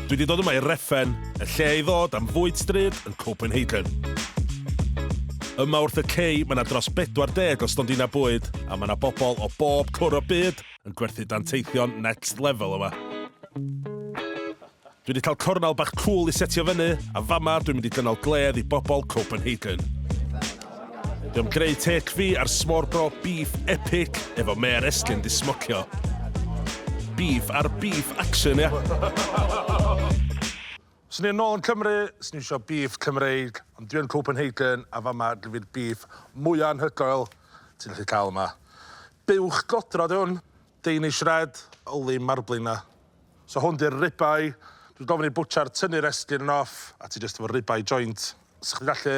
Dwi wedi dod yma i Reffen, y lle i ddod am fwyd stryd yn Copenhagen. Yma wrth y cei, mae yna dros 40 o stondinau bwyd, a mae yna bobl o bob cwr o byd yn gwerthu danteithion next level yma. Dwi wedi cael cornel bach cwl i setio fyny, a fama dwi'n mynd i gynnal gledd i bobl Copenhagen. Dwi am greu tech fi ar smorgo beef epic efo Mayor Estyn di smocio. Beef ar beef action, ia? Swn i yn ôl yn Cymru, swn i isio beef Cymreig, ond dwi yn Copenhagen a fama dwi fi'r beef mwya anhygoel ti'n gallu cael yma. Buwch godro di hwn, Danish red, yli marbling na. So hwn di'r ribeye, dwi'n gofyn i butcher tynnu'r estyn yn off a ti jyst efo ribeye joint. Sa chdi'n gallu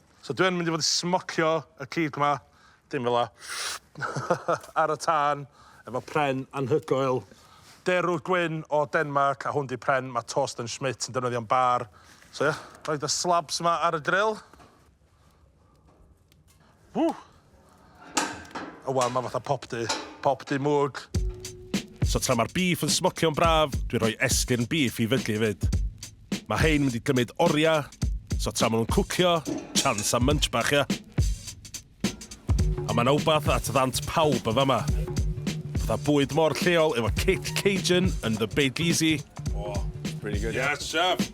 So dwi yn mynd i fod i smocio y cig 'ma, dim fela, ar y tân efo pren anhygoel derw gwyn o Denmarc, a hwn 'di pren ma' Torsten Schmidt yn defnyddio'n bar. So ia, rhoid y slabs 'ma ar y gril. Ww! O wel, ma' fatha pop du. Pop du mwg. So tra ma'r beef yn smocio'n braf, dwi'n rhoi esgyrn beef i fydlu efyd. Ma' hein mynd i gymyd oria, so tra ma' nhw'n cwcio, chance am munch bach ia? A ma' 'na wbath at ddant pawb yn fama. Fatha bwyd mor lleol efo kick Cajun yn The Big Easy. Oh, pretty good. Yeah, it's a shame.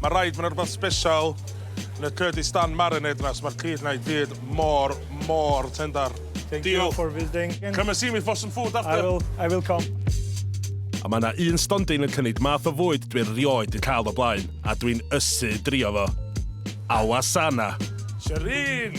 Mae'n rhaid, mae'n rhywbeth special yn y Kurdistan marinade yna, so mae'r cyd yna i gyd mor, mor tendar. Thank Deal. you for visiting. Come and see me for some food after. I will, I will come. A mae yna un stondin yn cynnig math o fwyd dwi'n rioed di cael o blaen, a dwi'n ysu drio fo. Awasana. Shireen!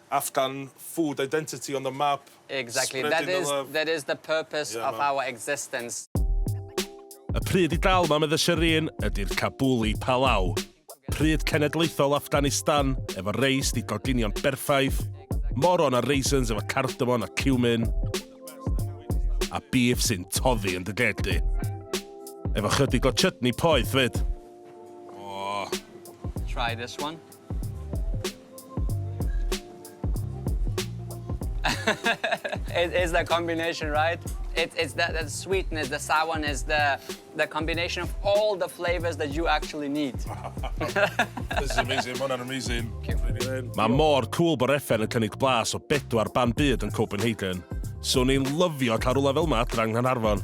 Afghan food identity on the map, spreading the love. Exactly, that is, that is the purpose of our existence. Y pryd i dal, mam iddo Shireen, ydi'r Kabuli Palau. Pryd cenedlaethol Afghanistan, efo reis di goginion berffaith, moron a raisins efo cardamon a cumin, a beef sy'n toddi yn dy geg di. Efo chydig o chutney poeth fyd. Oh. Try this one. It is the combination right? It it's the the sweetness, the sourness, the the combination of all the flavours that you actually need. This is amazing, ma' hwnna'n amazing. Mae mor cwl bod Reffen yn cynnig blas o bedwar ban byd yn Copenhagen. So ni'n lyfio cael rhywle fel yma adra yng Nghanarfon.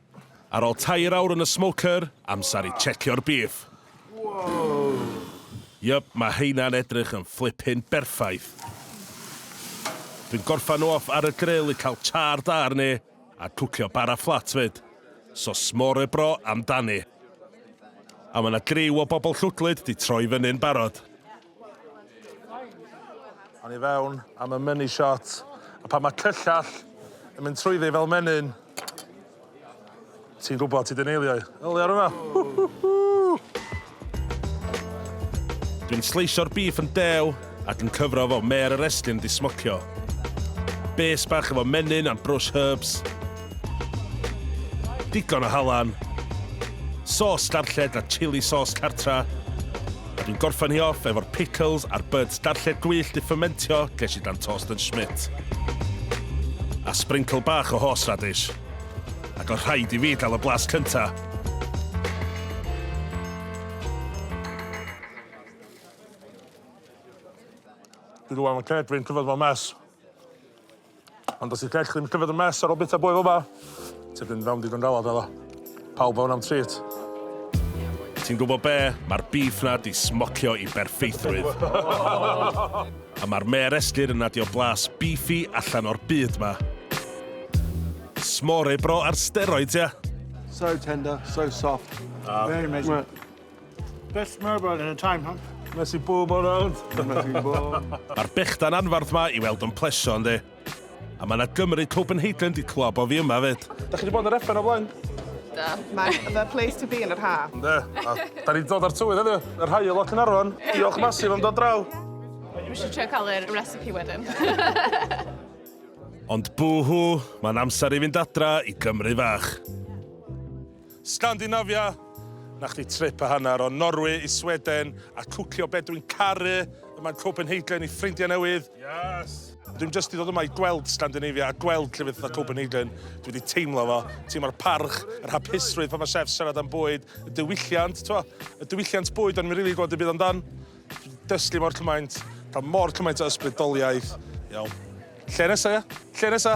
Ar ol tair awr yn y smoker, amsar i checio'r beef. Yup, ma heina'n edrych yn flippin berffaith. Dwi'n gorffan nhw off ar y grill i cael char da arni, a cwcio bara fflat fyd. So smore bro amdani. A ma na griw o bobl llwglyd di troi fyny'n barod. Awn i fewn am y money shot. A pan mae cyllall yn mynd trwyddi fel menyn, ti'n gwybod ti di neilio i. Yli ar yma. Dwi'n sleisio'r bîff yn dew ac yn cyfro fo mêr y reslin di smocio. Base bach efo menyn and brush herbs. Digon o halan, sauce darlled a chilli sauce cartra, a dwi'n gorffen hi off efo'r pickles a'r buds darlled gwyllt i ffymentio ges i dan tost yn Schmidt. A sprinkle bach o horseradish. Ac oedd rhaid i fi gael y blas cynta'. Dwi rŵan yn cred fi'n tyfod fo'n mess. Ond os yw ceg chdi'n pryfed yn mes ar ôl bita bwyd fel ma, ti'n mynd fewn digon galad efo fo. Pawb fewn am treat. Ti'n gwybod be, mae'r beef na di smocio i berffeithrwydd. A mae'r mêr esglir yn adio blas beefy allan o'r byd ma. S'more bro ar steroids ia? So tender, so soft. Very amazing. Best murmur in a time, huh? Cynnes i bob o rownd. Cynnes i bob. Mae'r bechdan anfarth ma i weld yn plesio, ynddi. A mae yna Gymru Copenhagen di clwab o fi yma fyd. Da chi wedi bod yn yr effer o blaen? Da. Mae the place to be yn yr ha. Da. Da ni wedi dod ar tywydd ydy, yr hael o Cynarfon. Diolch masif am dod draw. Mae eisiau trio cael yr recipe wedyn. Ond bwhw, mae'n amser i fynd adra i Gymru fach. Scandinavia, 'na chdi trip a hanner o Norwy i Sweden a cwcio be dwi'n caru yma yn Copenhagen i ffrindia newydd. Yes! Dwi'm jyst i ddod yma i gweld Scandinavia a gweld llefydd fatha Copenhagen, dwi wedi teimlo fo. Teimlo'r parch, yr hapusrwydd pan ma' chefs siarad am bwyd, y diwylliant, t'mo', y diwylliant bwyd o'n i'm rili gwbod dim byd amdan. Dwi 'di dysgu mor cymaint, ca'l mor cymaint o ysbrydoliaeth. Iawn. Lle nesa ia? Lle nesa?